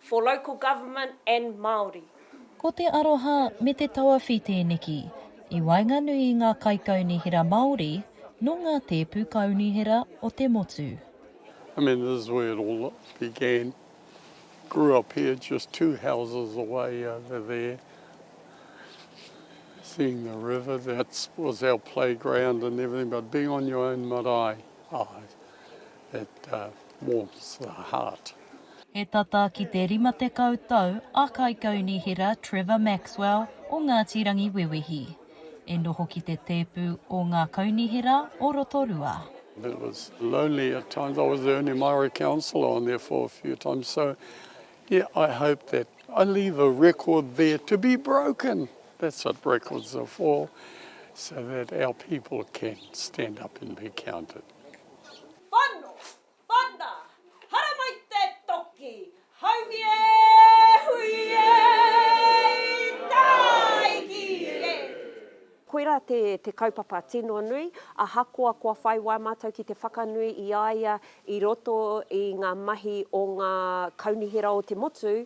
For local government and Māori. Ko te aroha me te tawawhi tēneki i waenganui i ngā kaikaunihera Māori nō ngā tēpu kaunihera o te motu. I mean this is where it all began, grew up here just two houses away over there, seeing the river, that was our playground and everything but being on your own marae, aye, It warms the heart. He tata ki te 50 tau a Kaikaunihera Trevor Maxwell o Ngāti Rangiwewehi, e noho ki te tēpu o Ngā Kaunihera o Rotorua. It was lonely at times, I was the only Māori councillor on there for a few times, so yeah, I hope that I leave a record there to be broken, that's what records are for, so that our people can stand up and be counted. Whano, whana, haramai te toki, haumi e, hui e, i tāiki e. Koirā te, te kaupapa tino nui, ahakoa kua whai wā mātou ki te whakanui i a ia i roto i ngā mahi o ngā Kaunihera o te motu,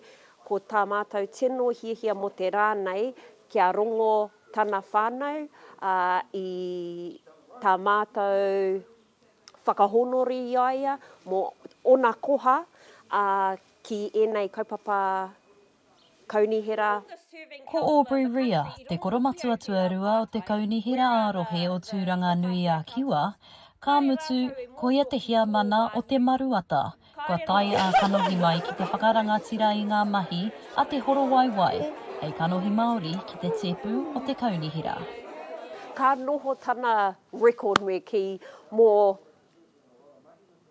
ko tā mātou tino hiahia mō te rā nei kia rongo tana whānau, ā, i tā mātou whakahōnore i a ia mō ōna koha, ā, ki ēnei kaupapa kaunihera. Ko Aubrey Rea, te koromatua tuarua o te Kaunihera ā-Rohe o Tūranga-nui-ā-Kiwa, ka mutu, koia te heamana o Te Maruata, Kua tae ā kanohi mai ki te whakarangatira i ngā mahi a Te Horowaiwai hei kanohi Māori ki te tēpu o te kaunihera. Ka noho tana record me kī, mō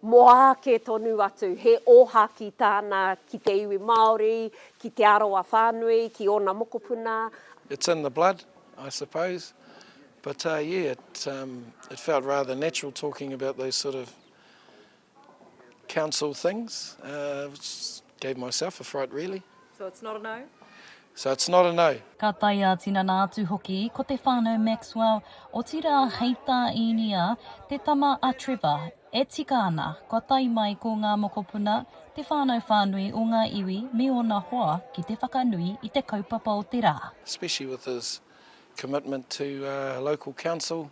mō āke tonu atu, he ōhākī tāna ki te iwi Māori, ki Te Arawa whānui, ki ōna mokopuna. It's in the blood I suppose but yeah it felt rather natural talking about those sort of Council things gave myself a fright really. So it's not a no? So it's not a no. Ka tae ā-tinana atu hoki ko te whānau Maxwell, otirā hei tā Īnia, te tama a Trevor, e tika ana kua tae mai ko ngā mokopuna, te whānau whānui o ngā iwi me ōna hoa ki te whakanui i te kaupapa o te rā. Especially with his commitment to local council.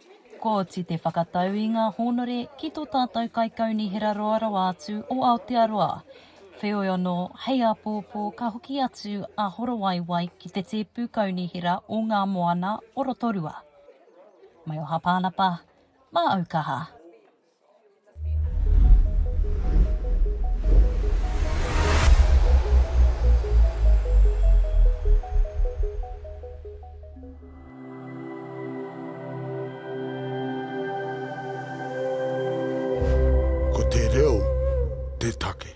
Kooti te whakatau i nga hōnore ki to tātou kaikaunihera roa rawa atu o Aotearoa. Wheoi anō, hei āpōpō ka hoki atu a Horowaiwai ki te tēpu kaunihera o Ngā Moana o Rotorua. Mai o Hapānapa, mā Aukaha. Ko te reo te take.